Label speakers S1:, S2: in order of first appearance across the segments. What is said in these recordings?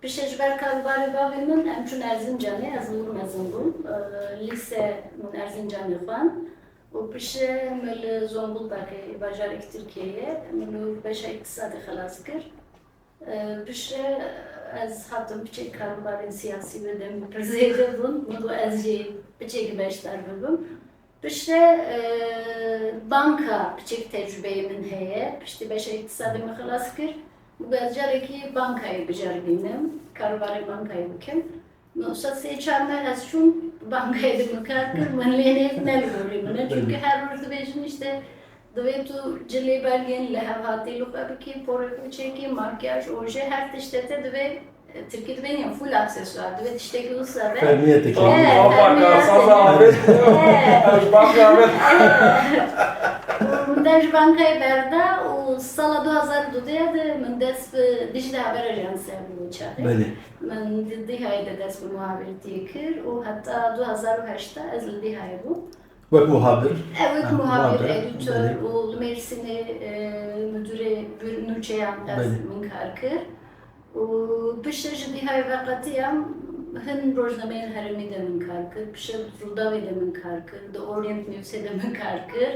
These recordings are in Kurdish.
S1: Piştî ji ber karûbarê bavê min em çûn Erzincanê, ez li Urmezin bûm, lîse min Erzincanê xwend û piştî me li Zonguldakê bajarekî Tirkiyeyê min li wir beşa îktisadê xelas kir. Piştî ez hatim piçek karûbarên siyasî wê demê pir zêde bûn, min got ez jî piçekî beşdar bibim Piştre banka biçek tecrubeyê min heye, piştî beşa îktisadê min xilas kir û got carekî bankayê biceribînim, karobarê bankayê bikim. Min wisa sê çar meh ez çûm bankayê de min kar kir, min lê nê nelgorî min e. Çimkî her roj dibêjin îşte Divê tu cilê belgên li hev hatî li xwe bikî, porê xwe çêkî, makiyaj, ojê, her tiştê te divê tirkî divê niya fûl aksesuar, divê tiştekî wisa be. Fermiyetê kî. Ava karsaza avêt
S2: ew ji ban xwe
S3: avêt. Û
S1: min der ji bankayê berda û sala du hezar û dudeh ya de min dest bi Dicle Haber Ajans ya bû çavê. Belê. Min
S2: li Dihayê
S1: de dest bi muhabirîtiyê kir û heta du hezar û heşt de ez li Dihayê bûm. Wek muhabir.
S2: He wek muhabir,
S1: editör û
S2: li
S1: Mêrsinê mudûrê bir nûçeyan ez min kar kir û piştre ji Dîhayê veqetiyam hin rojnameyên herêmê de min kar kir, piştre di Rûdawê de min kar kir, di Orient Newsê de min kar kir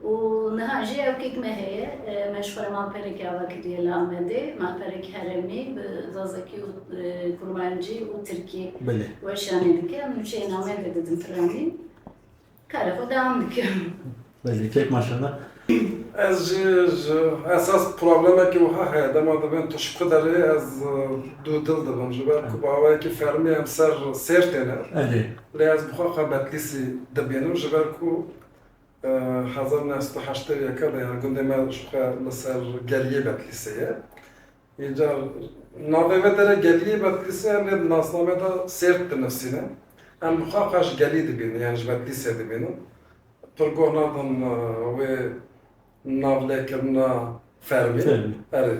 S1: û niha jî ewkek me heye me ji xwe re malpereke ava kiriye li Amedê, malperek herêmî bi zazakî û kurmancî û tirkî weşanê
S2: dike, em
S1: nûçeyên Amedê didin piranî. Kara xwe dewam dikim. Belê kek
S2: maşallah. Ez jî
S3: ji esas problemekî wiha heye dema dibin tişku derê ez dû dil dibim ji ber ku bi awayekî fermî em ser sêr têne. Elê. Lê
S2: ez bi xwe xwe
S3: Betlîsî dibînim ji ber ku hezar û neh sed û heştê û yek de ya gundê me ji xwe li ser geliyê Betlîsê ye. Înca navê me te re Geliyê Bedlîsê em rê di nasnameya de Sêrt dinivîsîne. Em bi xwe xwe ji Gelî dibînin yan ji Bedlîsê dibînin. Pir goh nadin wê navlêkirina fermî. Erê,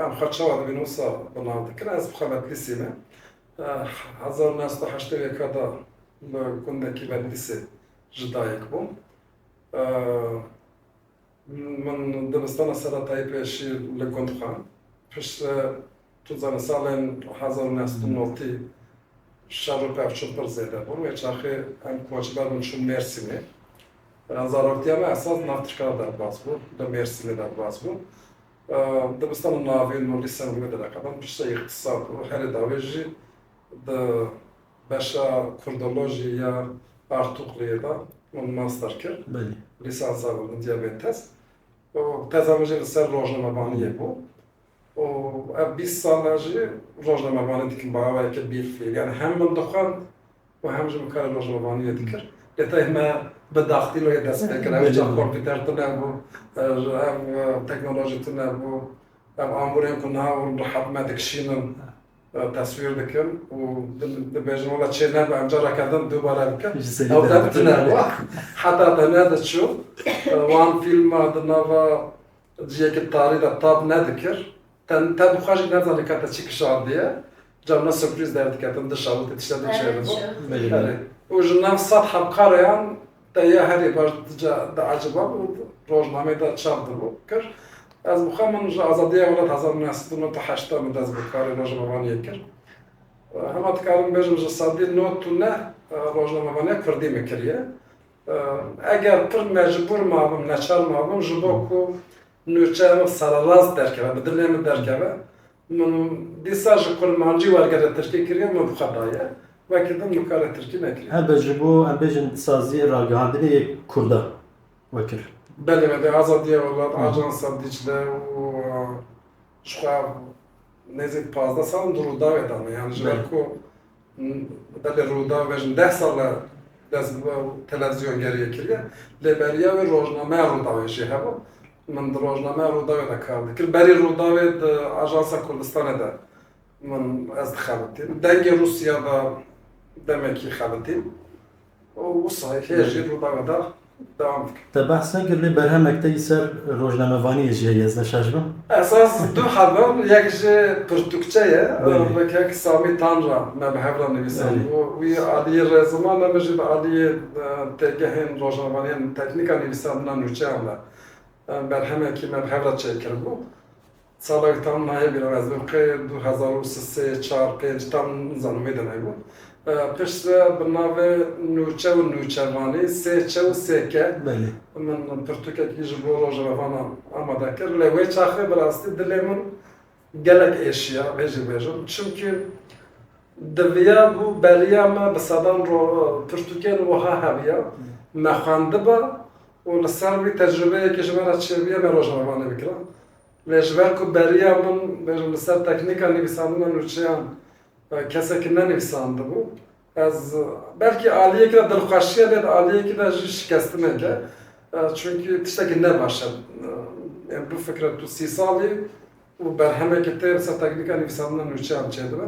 S2: em
S3: xwe çawa dibînin wisa bi nav dikin. Ez bi xwe Bedlîsî me. Hezar û neh sed û heştê û yeka de li gundekî Bedlîsê ji dayik bûm. Min dibistana seretayî pêşî li gund xwend. Pişt tu dizanî salên hezar û neh sed û notî şer û pevçûn pir zêde bûn. Wê çaxê em koçber bûn çûn Mêrsînê. Zaroktiya me esas nav tirkan derbas bû. Li Mêrsînê derbas bû. Dibistana navîn û lîsen wê direqedin. Piştre îxtîsat û herî dawî jî di Beşa Kurdolojiyê ya Artukluyê de min master kir, lîsansa
S2: bû min
S3: diyabêtes û teza min jî li ser rojnamevaniyê bû û ev bîst sal e jî rojnamevanî dikim bi awayeke bîrfîl. Yanî hem min dixwend û hem jî min karê rojnamevaniyê dikir. Lê tevî me bi daxtîloyê dest pê kir. Ew çax kompîter tune bû, ev teknolojî tune bû. Ev amûrên ku niha hûn rehet me dikişînin. Teswîr dikin û dibêjin wela çê nebe em careke din dubare dikin. Ew deb tune bû. Heta te nediçû wan fîlma di nava ciyekî tarî de tab nedikir. Te te bi xwe jî nezanî ka te çi kişandiye. Ca wina surprîz derdiketin dişa wê te tiştê diçêribû. Belê belê. Û
S2: ji nav
S3: sed hebkareyan Te ya herî baş dica dieciband û di rojnameyê de çap dibû, kir. Ez bi xwe min ji azadiya welat hezar û neh sed û nod û heşt de min dest bi karê rojnamevaniyê kir. Hema dikarim bêjim ji sedî nod û neh rojnamevaniya kurdî min kiriye. Eger pir mecbûr mabim, neçar mabim ji bo ku nûçeya min sererast derkeve, bi dilê min derkeve, Min dîsa ji kurmancî wergere tirkî kiriye û min bi xwe daye. Wekî din min karê tirkî nekiriye. Hebe ji bo em
S2: bêjin saziyê ragihandinê yê kurda we kir. Belê me dê
S3: Azadiya Welat, Ajansa Dîcle û ji xwe nêzîk pazdeh sal in di Rûdawê de ne. Yanî ji ber ku Belê Rûdaw bejn deh sal e dest bi televîzyongeriyê kiriye lê beriya wê rojnameya Rûdawê jî hebû. Min di rojnameya Rûdawê de kar dikir. Berî Rûdawê di Ajansa Kurdistanê de min ez dixebitîm. Dengê Rûsya de demekî xebitîm. û wisa yê lê jî rûdawa da dewam dike. Te behs nekir lê
S2: berhemek te yî ser rojnamevaniyê jî heye ez ne şaş bim. Esas du
S3: hebim yek jî pirtûkçe ye bi kek
S2: Samî Tanra
S3: me bi hev re nivîsand û wî aliyê
S2: re
S3: ziman e min jî bi aliyê têgehên rojnamevaniyên teknîk a nivîsandina nûçeyan re berhemekî me bi hev re çêkiribû Salek tam nayê bîra ez bin qê du hezar û si sê çar pênc tam nizanim wê demê bû. Pişt re bi navê Nûçe û Nûçevanî, Sêçe û Sêke min
S2: pirtûkekî
S3: ji bo rojnamevanan amade kir. Lê wê çaxê bi rastî dilê min gelek êşiya vê jî bêjim. Çimkî diviya bû beriya me bi sedan pirtûkên wiha hebiya me xwendiba û li ser wî tecrûbeyekî ji me re çêbiya me rojnamevanê bikira. Lê ji ber ku beriya min bêjim li ser teknîka nivîsandina nûçeyan kesekî nenivîsandibû, ez belkî aliyekî de dilxweşiya lê di aliyekî de jî şikestinek e. Çunkî tiştekî ne baş e. Ên bifikre tu sî salî û berhemekî tê li ser teknîka nivîsandina nûçeyan çêdibe.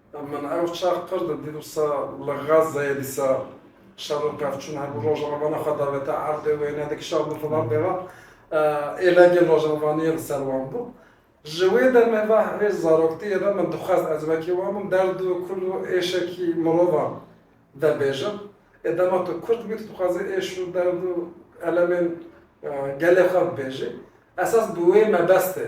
S3: Min ew çax pir di dît wisa li Gazeyê dîsa şer û pevçûn hebû. Rojavana xwe davêta erdê wêne dikişand li filan dêva. Êlengên rojavaniyê li ser wan bû. Ji wê demê ve hê zaroktiyê ve min dixwest ez wekî wan bim, derd û kul û êşekî mirovan vebêjim. Ê dema tu kurd bûyî tu dixwazî êş û derd û elemên gelê xwe bibêjî. Esas bi wê mebestê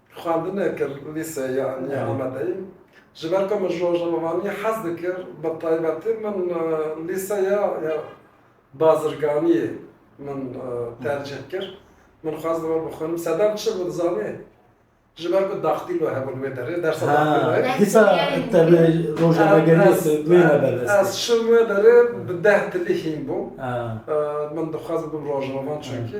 S3: Xwendinê kir li lîseyê anî Amedeyê. Ji ber ku min ji rojnamevaniyê hez dikir, bi taybetî min lîseya bazirganiyê min tercîh kir. Min xwest li we bixwînim. Sedem çi bû dizanî? Ji ber ku daktîlo hebû li wê derê, dersa daktîloyê. Ha, dîsa tevlê
S2: rojnamegeriyê wê me bervestî. Ez çûm wê derê
S3: bi deh tilî hîn bûm.
S2: Min dixwest
S3: bibim rojnamevan çunkî.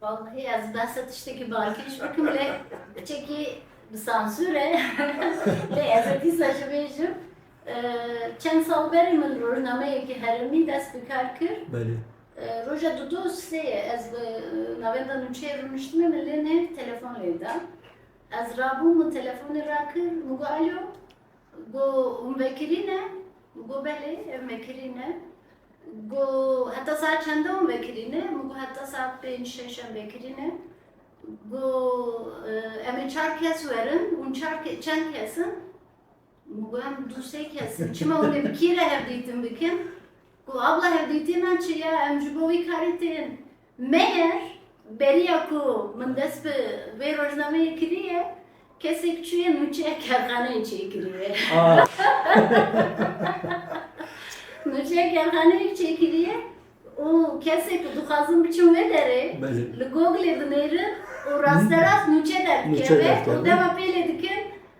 S2: Wexwxî ez
S1: behsa tiştekî bakiş bikim lê biçekî bi sansûr e lê ez ê dîsa jî bêjim çend sal berê min rojnameyekî herêmî dest bi kar kir. Belê.
S2: Roja du
S1: do sê ye ez bi navenda nûçeyê rûniştime min lê nê telefon lê da. Ez rabûm min telefonê rakir min got alo got hûn vekirî ne? Min got belê ev mekirî ne. Got, Heta saet çend dewam e kirîne? Min got, Heta saet pênc şeş em vê kirîne. Got, Em ê çar kes werin, hûn çar çend kes in? Min got, Em du sê kes in. Çima hûn ê bi kî re hevdîtin bikin? Got, Abla hevdîtina çi ye? Em ji bo wî karî tên. Meyer beriya ku min dest bi vê rojnameyê kiriye, kesek çûye nûçeya kerxaneyê çêkiriye. Nûçeya kerxaneyê çêkiriye û kesê ku dixwazin biçin wê derê li Googlê
S2: dinêrin
S1: û rasterast nûçe derdikeve û dema pêlê dikin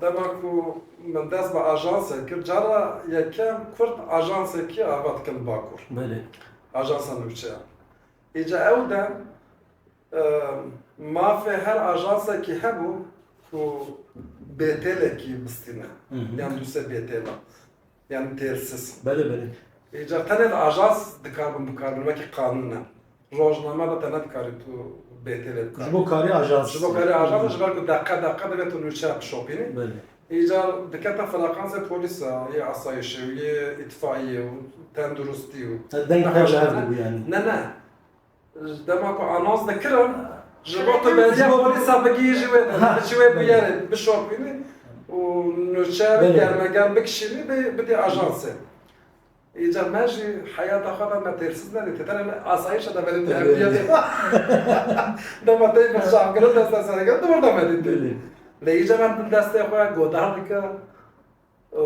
S3: Dema ku min dest bi ajansê kir, cara yekem kurd ajansekî ava dikin li Bakur. Belê.
S2: Ajansa nûçe
S3: ya. Îca ew dem mafê her ajansekî hebû ku bêtêlekî bistîne. Yan dûsê bêtêla. yan têlsiz. Belê belê.
S2: Îcar tenê li
S3: ajans dikar bin bikarbin wekî qanûn e. Rojname re tene dikarî tu bê têlê bikar. Ji bo karî ajans.
S2: Ji bo karî ajans e ji ber
S3: ku deqe deqe divê tu nûçeya bişopînî. Belê. Îcar
S2: dikete
S3: frekansê polîs a, yê asayîşê û yê îtfaîyê û tenduristî û. Deng te ji hev dibû
S2: yanî. Ne ne.
S3: Ji dema ku anons dikirin ji bo tu benziya polîsa bigihî ji wê de ji wê bûyerê bişopînî û nûçeyê germeger bikişînî bidî ajansê. Îcar me jî heyata xwe de me têrsiz nerê tê tenê me asayişe de belê tevliye tê. Dema tê me şavkirin deste serkirin tu orada me dîtî. Lê îcar
S2: em
S3: destê xwe godar dike. û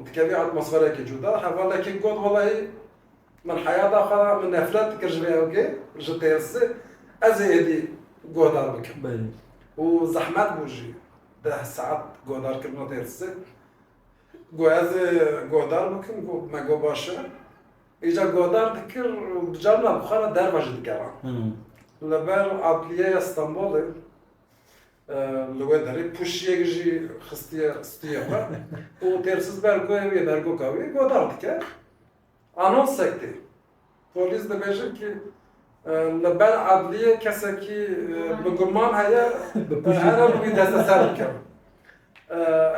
S3: dikevî atmosferekê cuda. Hevalekî got, Welahî min heyata xwe de min nefret dikir ji vê ewkê, ji têrsê. Ez ê êdî guhdar bikim. Û
S2: zehmet
S3: bû jî deh saet guhdarkirina têrsê. Got ez ê guhdar bikim. Got me got baş e. Îcar guhdar dikir û bi carina bi xwe re derve jî dikeva. Li ber adliyeya Stenbolê Li wê derê pûşiyek jî xistiye stûya xwe û têrsûz ber ku ew yê dergoka wî godar dike. Anonsek tê. Polîs dibêjin kî li ber edliyê kesekî bi guman heye here li wî desteser bike.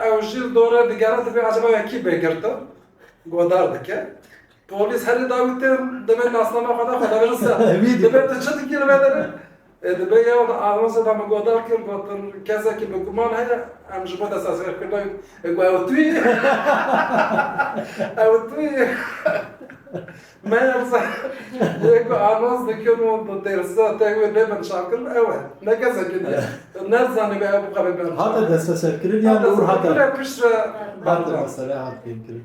S3: Ew jî li dore digere dibê acaba wekî bê girtin godar dike. Polîs herî dawî tên divê nasnama xwe de xwedabin ser. Divê tu çi dikî li vê derê? Divê yew di anonsê de min godar kir gotin kesekî bi guman heye em ji bo destesxêrkirina wî ê got ew tu yî? Ew tu yî? Meyerse yê ku anons dikin û di têrsa tên wê lê bin çavkirin ew e. Ne kesekî diye. Ne zanîbû ew bixwe bê berçav. Hate desteserkirin
S2: yan li wir hate? Piştre
S3: berçav. Hate mesele
S2: hat fêmkirin.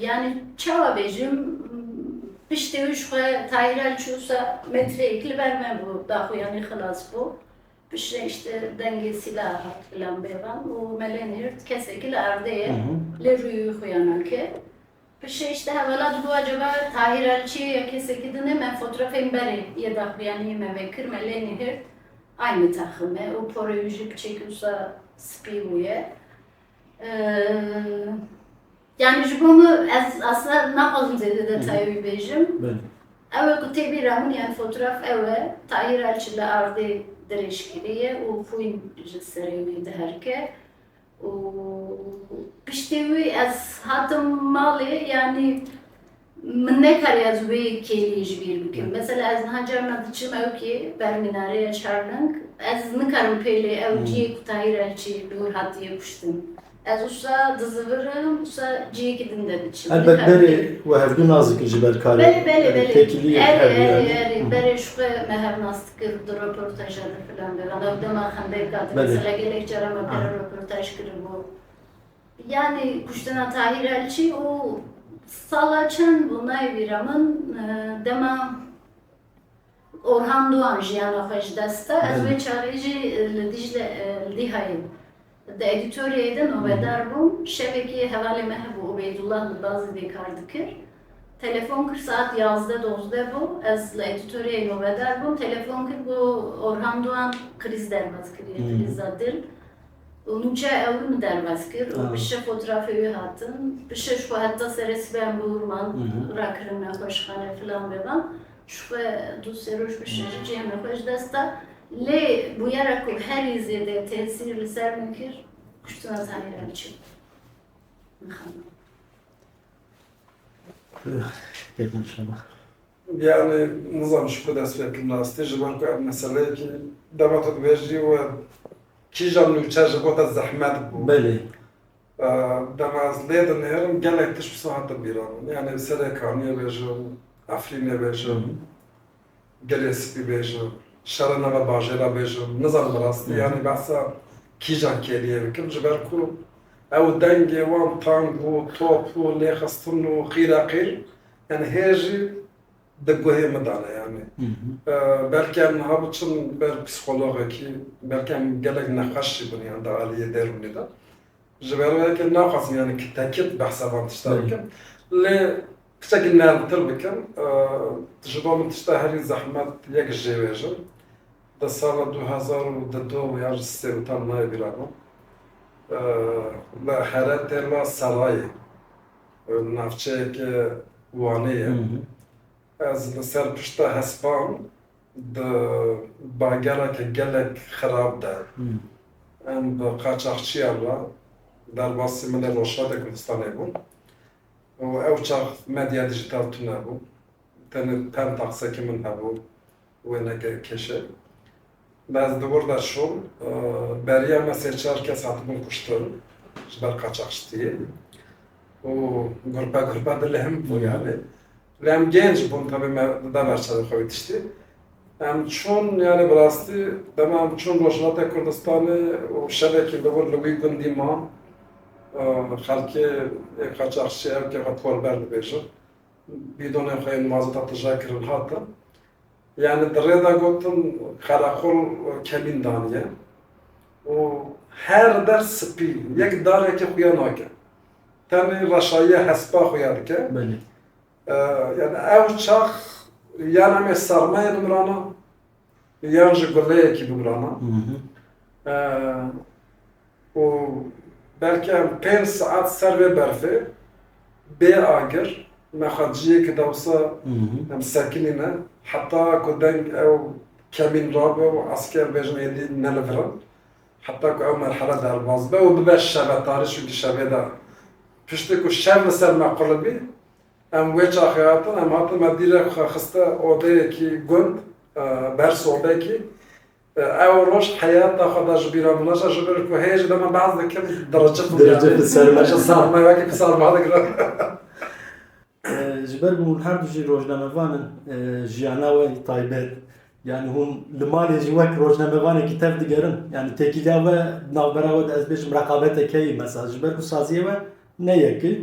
S1: Yanî çawa bêjim, piştî wî ji xwe Tahiran çû ser metreyek li ber me bû, daxuyanî xilas bû. Piştî re îşte dengê sîlah hat filan bêvan û me lê nîrt kesekî li erdê ye, lê rûyê wî xuya nake. Piştî re îşte hewala dibû acaba Tahiran çi ye ya kesekî din e, me fotrafên berê yê daxuyaniyê me vekir, me lê nîrt aynî texim e û porê wî jî piçekî wisa spî bûye. Yani ji bo min ez asla naxwazim zêde detayê wî bêjim. Ew e
S2: ku tê bîr
S1: e min yani fotoğraf ew e Tahîr Elçi li ardê derê şikirî ye û xwîn ji serê wî diherike û piştî wî ez hatim malê yani Min nekariye ez wê kêliyê ji bîr bikim. Mesela ez niha carna diçim ewkê ber mînareya Çarnink, ez nikarim pêlê ewciyê ku Tahîr Elçî li wir hatiye kuştin. Ez wisa dizivirim, wisa ciyekî din de diçim. Elbet berê we
S2: hevdu nas dikin ji ber karê têkiliyê.
S1: Belê, belê.
S2: Erê, erê, erê.
S1: Berê ji xwe me hev nas dikin di roportaja de filan de. Wala ew dema xendek hate. Mesela gelek cara me pere roportaj kiribû. Yanî kuştina Tahîr Elçî û sala çend bû nayvîre min dema Orhan Dûan jiyana xwe ji dest da. Ez wê çaxê jî li Dîcle li Dîhayê di edîtoryayê de nobedar bûm. Şevekê hevalê me hebû Ubeydullah li Dazî dê kar dikir. Telefon kir saet yazdeh dozdeh bû ez li edîtoryayê nobedar bûm. Telefon kir got Orhan Dûan krîz derbat kiriye, krîza dil. û min çay ew min derbas kir û piştre fotrafê wî hatin piştre ji xwe heta serê sibeyan bi wir man rakirin nexweşxane filan bevan ji xwe du sê roj piştre jî cihême xwe ji dest da lê bûyera ku herî zêde tesîr li ser min kir kuştina Zahîr Elçî bû mixemma.
S2: Yanî
S3: nizanim ji ku dest pê bikim rastî ji ber ku ev meseleyekî dema tu dibêjî we kîjan nûçe ji bo te zehmet bû. Belê. Dema ez lê dinêrim gelek tişt wisa hate bîra min. Yanî serê kaniyê bêjim, Efrînê bêjim, Gelê Spî bêjim, şerê nava bajêra bêjim. Nizanim rastî yanî behsa kîjan kêliyê bikim ji ber ku ew dengê wan tang û top û lêxistin û qîreqîr Yanî hê jî di guhê min de ne yanî. Belkî em niha biçin ber psîkologekî, belkî em gelek nexweş jî bûn yan di aliyê derûnî de. Ji ber wê yekê naxwazim yanî ki tekit behsa van tişta bikim. Lê piçekî nermtir bikim, ji bo min tişta herî zehmet yek ji jê wêjim. Di sala du hezar û di du yan ji sê û tam nayê bîra min. Li Heretê la Serayê navçeyeke Wanê ye. Ez li ser pişta hespan di bagereke gelek xerab de em bi qaçaxçiyan re derbasî min ê Rojhilatê Kurdistanê bûn û ew çax medya dîjîtal tune bû. Tenê penta qisekî min hebû. Wêneke kêşe me ez di wir de çûm. Beriya me sê çar kes hatibûn kuştin ji ber qaçaxçitiyê û gurpe gurpe di lihim bûn yanî. Lê em gênc bûn tevî me dide ber çavê xwe wî tiştî. Em çûn yanî bi rastî dema em çûn Rojhilata Kurdistanê û şevekî li wir li wî gundî ma xelkê ê qaçaxçî ew ke xwe por ber dibêjin Bîdonên xwe yên mazota tije kirin hatin. Yanî di rê de gotin qereqol kemîn daniye û her der spî yek darekê xuya nake. Tenê reşayiya hespa xuya dike. Belê. Yanî ew çax yan em ê sermayê bimrana Yan ji guleyekî bibirana û belkî em pênc saet ser vê berfê bê agir me xwe ciyêkî dewsa em sekinîne heta ku deng ew kemîn rabe û esker bêjin êdî ne li vir in heta ku ew merhele derbas be û bibe şevetarî çunkî şevê de piştî ku şev li ser me qulibî Em wê çaxê hatin, em hatin me dîrek xwe xiste odeyekî gund, ber sobekî. Ew roj heyata xwe da ji bîr a min naçe, ji ber ku heye jî dema behs dikim diricixim yanî. Diricix li ser me. Ji sar
S2: me wekî ku sar
S3: ma digirim.
S2: Ji ber ku hûn her du jî rojnamevan in, jiyana we yê taybet yanî hûn li malê jî wek rojnamevanekî tev digerin. Yanî têkiliya we di navbera we de ez bêjim reqabete keyî mesela ji ber ku saziyê we ne yek e.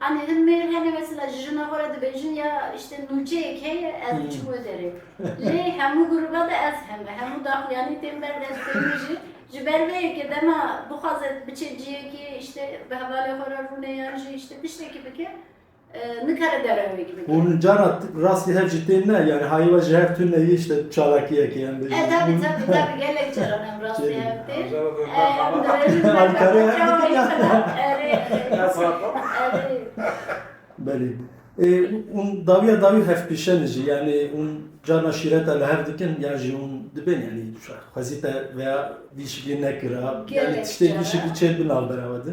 S1: Anî hin mêr hene mesela ji jina xwe re dibêjin ya îşte nûçeyek heye ez biçim wê derê. Lê hemû grûba de ez heme, hemû daxuyanî tên ber de ez tên mijî. Ji ber vê yekê dema bixwaze biçe ciyekê îşte bi hevalê xwe re rûne yan jî îşte tiştekî bike nikare derewek bike. Hûn cara
S2: rastî hev jî tên ne? Yanî hayê we ji hev tune îşte çalakiyekê em bêjin? E tabî tabî tabî
S1: gelek caran.
S2: Belê ê hûn dawiya dawî hevpêşen jî yanî hûn carna şîreta li hev dikin yan jî hûn dibên yanî xwezî te veya vî şiklî nekira yanî tiştê vî şiklî çêbin navbera we de.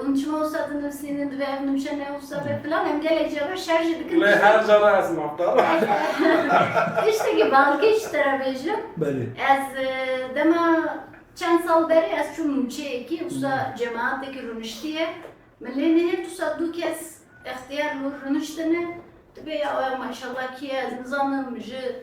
S1: Hûn çima wisa dinivîsînin, divê ev nimşe ne wisa be filan, em gelek jî re şer jî dikin. Lê her cara ez
S3: mafdar im.
S1: Tiştekî balkê ji te re bêjim. Belê. Ez dema çend sal berê ez çûm nûçeyekî, wisa cemaetekî rûniştiye. Min lê nihêlt wisa du kes extiyar li wir rûniştine. Dibê ya wexma îşallah kî ye ez nizanim ji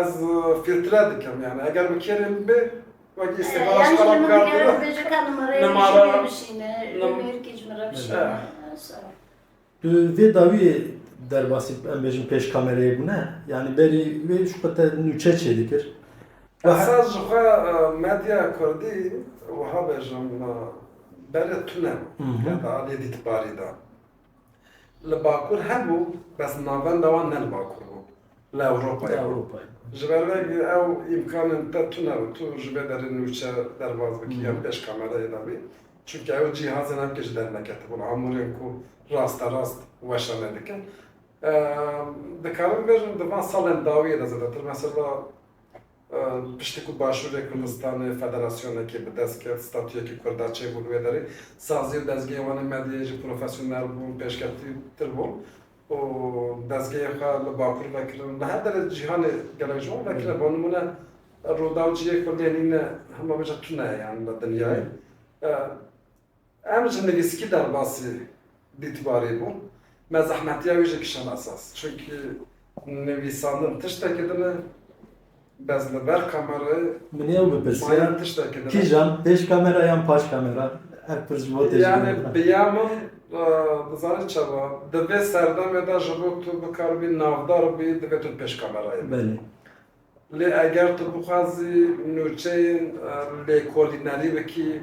S3: Ez filtre dikim yani eger bi kêrê min be wekî îstîxara ji qala bikardin.
S1: Nimara
S2: Tu vê dawiyê derbasî em bêjin pêş kamereyê bûne yanî berî wê ji xwe te nûçe çêdikir. Esas ji
S3: xwe medya kurdî wiha bêjim berê tune heta aliyê dîtbarî de. Li Bakur hebû bes navenda wan ne li Bakur bû li Ewropayê bû. Ji ber
S2: vê
S3: ew îmkanên te tune û tu ji vê derê nûçe derbas bikî yan pêş kamerayê de bî. Çimkî ew cîhazên hevkê ji der neketibûn, amûrên ku rasterast weşanê dikin. Dikarim bibêjim di van salên dawiyê de zedetir mesela Piştî ku Başûrê Kurdistanê federasyonekê bi dest ket, statuyekî Kurda çêbû li wê derê. Sazî û dezgehê wan ê medyayê jî profesyonel bûn, pêşkeftîtir bûn û dezgehê xwe li Bakur vekirin. Li her derê cîhanê gelek ji wan vekirine. Bo nimûne Rûdaw cihê ku lê nîne hema bêje tune ye yan li dinyayê. Em ji nivîskî derbasî dîtbarî bûn. Me zehmetiya wî jî kişand esas. Çunkî nivîsandin tiştekî din e, bez li ber kamera ye. Min ew
S2: bipirsiya, kîjan,
S3: pêş kamera
S2: yan paş kamera? Ev pirs ji bo tê jibîne. Yanî bi ya min,
S3: dizanî çawa, di vê serdemê de ji bo tu bikaribî navdar bibî divê tu pêş kamerayê bibî. Belê.
S2: Lê
S3: eger tu bixwazî nûçeyên lêkolînerî bikî,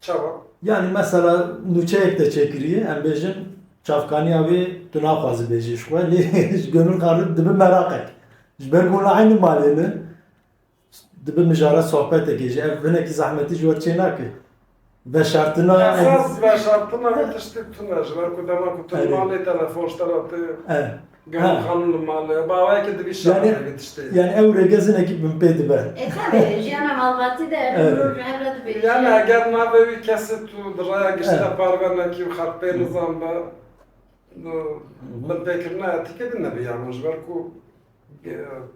S3: Çawa? Yanî mesela
S2: nûçeyek te çêkirî em bêjin çavkanîya wê tu naxwazî bêjî ji xwe lê ji gomên xwe re dibi meraqek. Ji ber ku hûn eynî malê ne dibi mijara sohbetekê jî ev hinekî zehmetî ji we çê nake. Veşartina Esas veşartina wê tiştî tune ji ber ku
S3: dema ku tu li malê telefon ji te re tê Gelê
S2: xanûm li
S3: mal e. Baweyeke divî şaxê bi tiştê. Yani ew rêgezinekî
S2: min pê dibe. E tabi jiyana
S1: malbatî de ev mirov ji
S2: hev re dibêje. Yani
S1: eger navê
S3: wî kesê tu di raya giştî de parve nekî û
S2: xerpê
S3: nizanbe di binpêkirina etîkê de ne biyama ji ber ku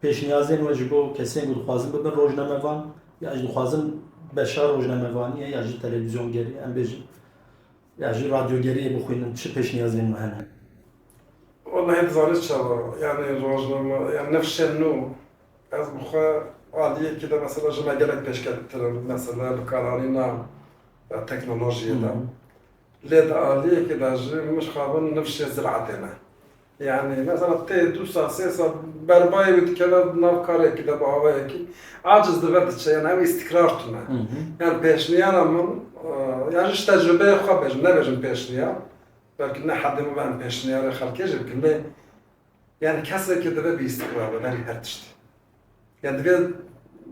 S2: Pêşniyazên we ji bo kesên ku dixwazin bibin rojnamevan ya jî dixwazin beşa rojnamevaniyê ya jî televîzyongeriyê em bêjin ya jî radyogeriyê bixwînin çi pêşniyazên we hene?
S3: Wela hê dizanî çawa yanî rojname yan nifşên nû ez bi xwe aliyekî de mesela ji me gelek pêşkettir in mesela li karanîna teknolojiyê de lê di aliyekî de jî min ji xwe bin nifşê ziratê ne Yanî mesela tê du sal sê sal ber bayê wî dikeve nav karekî de bi awayekî aciz dive diçe yan ew îstîkrar tune. Yan pêşniyara min yan ji tecrubeyê xwe bêjim nebêjim pêşniyar belkî ne hedê min be em pêşniyarê xelkê jî bikin lê yanî kesekî divê bi îstîkrar be berî her tiştî. Yan divê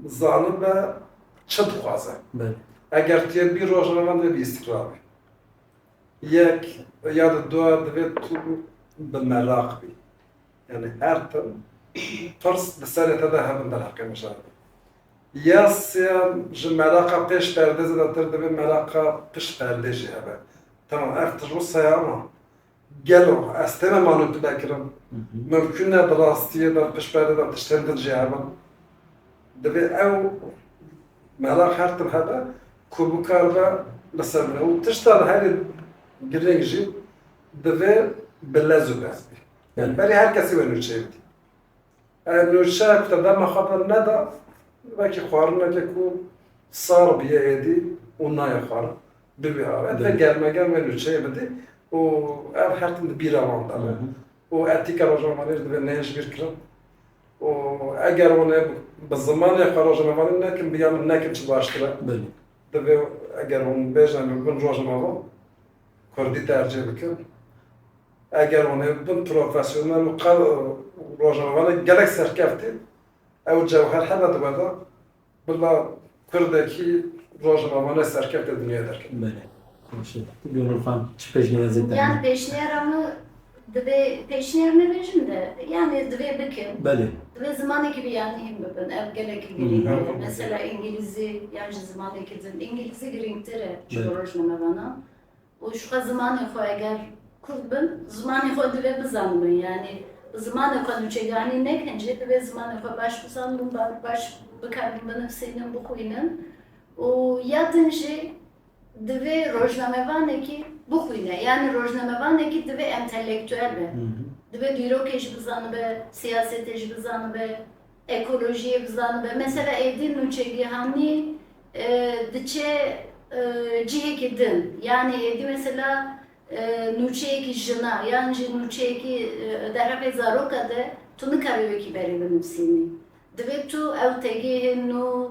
S3: zanibe çi dixwaze. Eger
S2: tê bî
S3: rojnamevan divê bi îstîkrar be. Yek ya di du divê tu bi meraq bî. Yanî her tim pirs di serê te de hebin derheqê mijar bî. Ya sêyem ji meraqa pêş perdê zêdetir divê meraqa pişt perdê jî hebe. Temam ev ti rû seye ama gelo ez têne manîpule kirin? Mimkûn e di rastiyê de pişt perdê de tiştên din jî hebin? Divê ew meraq her tim hebe Ku bikaribe li ser min û tişta li herî girîng jî divê bi lez û bez bê. Yanî berî her kesî wê nûçeyê bidî. Eger nûçe ku te dema xwe de neda, wekî xwarinekê ku sar bûye êdî û nayê xwarin, bi wî awayî divê germa germ wê nûçeyê bidî û ev her tim di bîra wan de be. Û etîka rojnamevaniyê jî divê neyên ji bîr kirin. Û eger hûn ê bi zimanê xwe rojnamevandin nekin, bi ya min nekin çi baştir e. Divê
S2: eger
S3: hûn bêjin em ê bibin rojnameva, kurdî tercîh bikin. Eger hûn ê bibin profesyonel û qe rojnamevanên gelek serkeftî, ew cewher hebe di we de. Bila pirdekî rojnamane serkefte dinyayê derket. Belê. Baş e.
S2: Ti Gönül xan çi pêşniyazê te Yani heye? pêşniyara
S1: min divê pêşniyar nebêjim de yani divê bikin. Belê. Divê zimanekî
S2: bi
S1: yani hîn bibin. Ev gelekî girîng e. Hemû. Mesela îngîlîzî yan ji zimanekî din. Îngîlîzî girîngtir e ji bo Belê. rojnamevanan. Û ji xwe zimanê xwe eger kurd bin, zimanê xwe divê bizanibin. Yanî bi zimanê xwe nûçeganî nekin jî divê zimanê xwe baş bizanibin, baş bikarin binivsînin, bixwînin û ya din jî divê rojnamevanekî bixwîne. Yanî rojnamevanekî divê entelektuel be. Divê dîrokê jî bizanibe, siyasetê jî bizanibe, Ekolojiyê bizanibe. Mesela êdî nûçegihanî diçe cihêkî din. Yanî êdî mesela nûçeyêkî jina yan jî nûçeyêkî derheqê zaroka de tu nikarî wekî berê binivîsînî. Divê tu ew tegihê nû.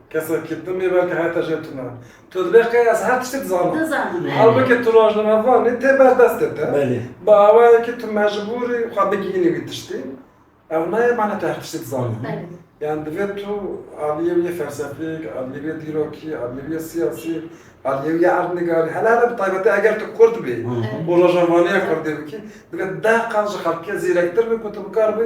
S3: Kesek ki tim ê belke heta jê tu ne. Tu dibê qey ez her tiştî dizanim. Dizanim. Halbuki tu rojnamevanî tê ber destê te. Belê. Bi awayê
S2: ki tu
S3: mecbûrî xwe bigihînî wî tiştî. Ev nayê mana tu her tiştî dizanî. Belê. Yan divê tu aliyê wî yê felsefîk, aliyê wî yê dîrokî, aliyê wî yê siyasî, aliyê wî yê erdnigarî, hele hele bi taybetî eger tu kurd bî û rojnamevaniya kurdî bikî, divê deh qat ji xelkê zîrektir bî ku tu bikar bî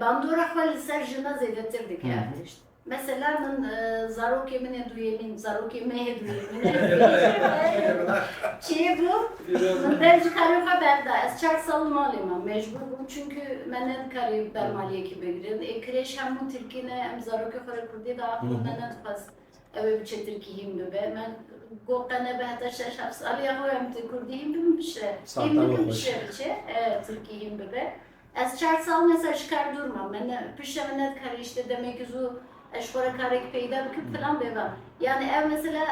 S1: Bandora xwe li ser jina zêdetir dike ev tişt. Mesela min zarokê min ê duyêmîn, zarokê me yê duyêmîn çê bû min dev ji xerê xwe berda. Ez çar sal li malê me mecbûr bûm çünkü me ne dikarê ber maliyekî bigirin. Ê kirêj hemû tirkî ne em zarokê xwe re kurdî da axivin me nedixwest ew ê biçe tirkî hîn bibe. Me got te nebe heta şeş heft saliya xwe em tu kurdî hîn bibin bişe. Hîn bikin bişe biçe tirkî hîn bibe. Ez çar sal me ser ji kar dûr mam. Me ne pişte me nedikare îşte demekî zû ez ji xwe re karekî peyda bikim filan bêva. Yanî ev mesela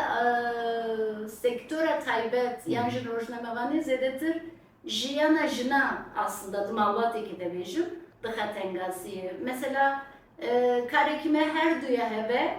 S1: sektora taybet yan jî rojnamevaniyê zêdetir jiyana jinan aslında di malbatêkê de bêjim dixe tengasiyê. Mesela karekî me her du ya hebe.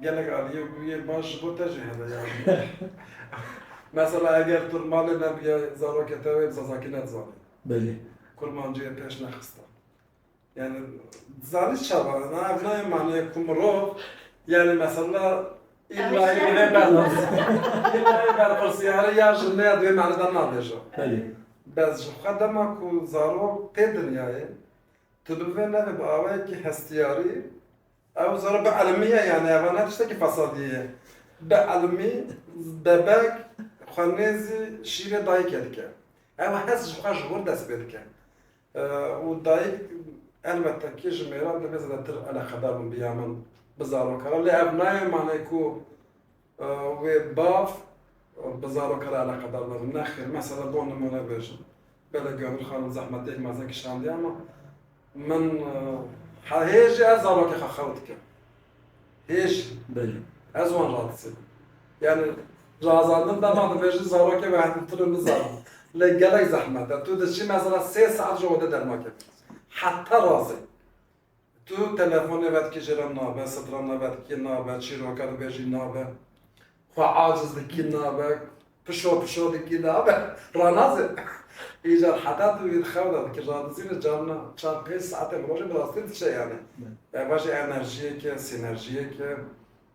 S3: Gelek aliyê ku yê baş ji bo te jî hebe ya ji bo min. Mesela eger tu li malê nebiye zarokê te wê bi zazakî nedizanî. Belê.
S2: Kurmancî yê pêş
S3: nexiste. Yani dizanî çawa na ev nayê maneyê ku mirov yani mesela îlla yê divê berpirs îlla yê berpirsiyarê ya ji me ya di wê mane de nabêje. Belê.
S2: Bes ji xwe
S3: dema ku zarok tê dinyayê tu bi vê navê bi awayekî hestiyarî Ew zana bi elmî ye yanî eva ne tiştekî fesadî ye. Bi elmî bebek xwe nêzî şîrê dayikê dike. Ew hes ji xwe ji hol dest pê dike. Û dayik elbette kî ji mêran divê zedetir eleqedar bin bi ya min, bi zarokan re. Lê ev nayê manê ku Wê bav bi zarokê re eleqedar nebe. Nexir, mesela bo nimune bêjim, bele Gönül xanim zehmetêk mezin kişandiye ama min hê jî her zarokê xwe xew dikim. Hê jî. Belê.
S2: Ez wan radizê
S3: bûm. Yani razandin dema dibêjin zarokê ve hevdîtir in nizanin. Lê gelek zehmet e. Tu diçî mesela sê saet ji ode derma kevin. Heta razê. Tu telefonê vedikijî re nabe, sitra me vedikî nabe, çîroka dibêjî nabe, xwe aciz dikî nabe, pişo pişo dikî nabe, ranazê. Îcar heta tu vî di xew de dikî radizîne carina çar pênc saetê bi rojê bi rastî diçe yanî. Ev jî enerjiyek e, sînerjiyek e.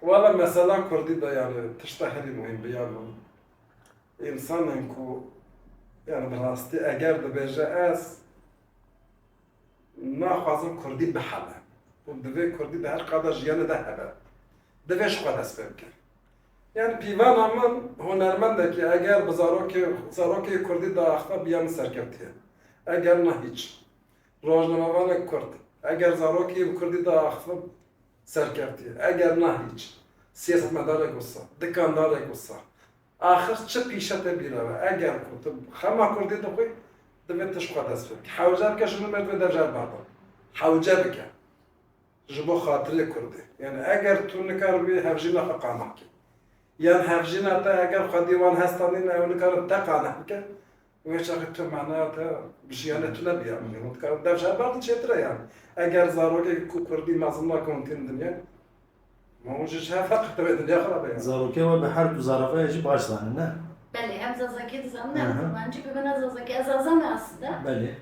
S2: Wala mesela
S3: kurdî de yanî tişta herî muhîm bi ya min însanên ku yanî bi rastî eger dibêje ez naxwazim kurdî bihebe û divê kurdî di her qada jiyanê de hebe divê ji xwe dest pê bike. Yanî pîvana min hunermendekî eger bi zarokê zarokê kurdî diaxive bi ya min serkevtî ye eger na hîç. Rojnamevanek kurd eger zarokî yên kurdî de axivin serkevtî eger na hîç. Siyasetmedarek wisa, dikandarek wisa. Axir çi pîşe te bîra be eger ku tu xema kurdî dixwî divê tişt xwe dest pê bikî. Hewce bike ji nû me divê dev ji hev berdin. Hewce bike ji bo xatirê kurdê. Yanî eger tu nikaribî hevjîna xwe qane bikî yan hevjîna te eger xwedî wan hesta nîne ew nikarin te qane bikin Wê çaxê tu manaya te bi jiyana tu ne biya min e. Hûn dikarin dev ji heval din çêtir e yan. Eger zarokek ku kurdî mezin na kontîn di dinyayê
S2: ma hûn
S3: ji ji
S2: hev heq
S3: tevê
S2: dinya
S3: xirab e yan.
S2: Zarokê
S3: we
S2: bi her
S3: du
S2: zarafayê
S3: jî baş
S2: zanin
S3: ne?
S2: Belê
S1: hem zazakî dizanin hem kurmancî bi min e
S2: zazakî
S1: ez zaza me aslinde. Belê.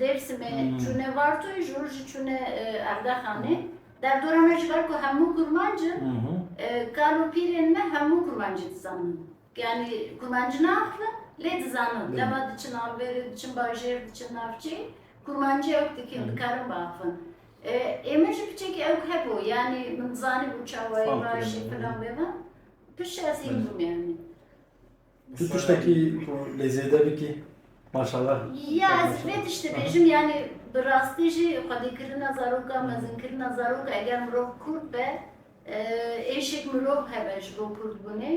S1: Dêrsimê çûne Vartoyê ji hûr jî çûne Erdexanê. Derdora me ji ber ku hemû kurmanc in, kal û pîrên me hemû kurmancî dizanin. Yanî kurmancî naaxivin lê dizanin. Dema diçin alverê, diçin bajêr, diçin navçî kurmancî ewk dikin, dikarin biaxivin. Ê min jî piçekî ewk hebû yanî min dizanibû çawayê, vajî, filan
S2: vêvan.
S1: Pişt ez hîn bûm yanî. Tu tiştekî
S2: ku lê zêde bikî? Maşallah. Ya ez vê
S1: tişt dibêjim yanî bi rastî jî xwedîkirina zarokan, mezinkirina zarokan eger mirov kurd be êşek mirov hebe ji bo kurdbûnê.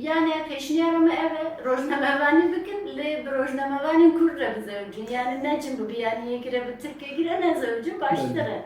S1: Yanî pêşniyara min ev e rojnamevanî bikin lê bi rojnamevanên kurd re bizewicin. Yanî ne cin bibe yanî yekî re bi tirkekî re nezewicin baştir e.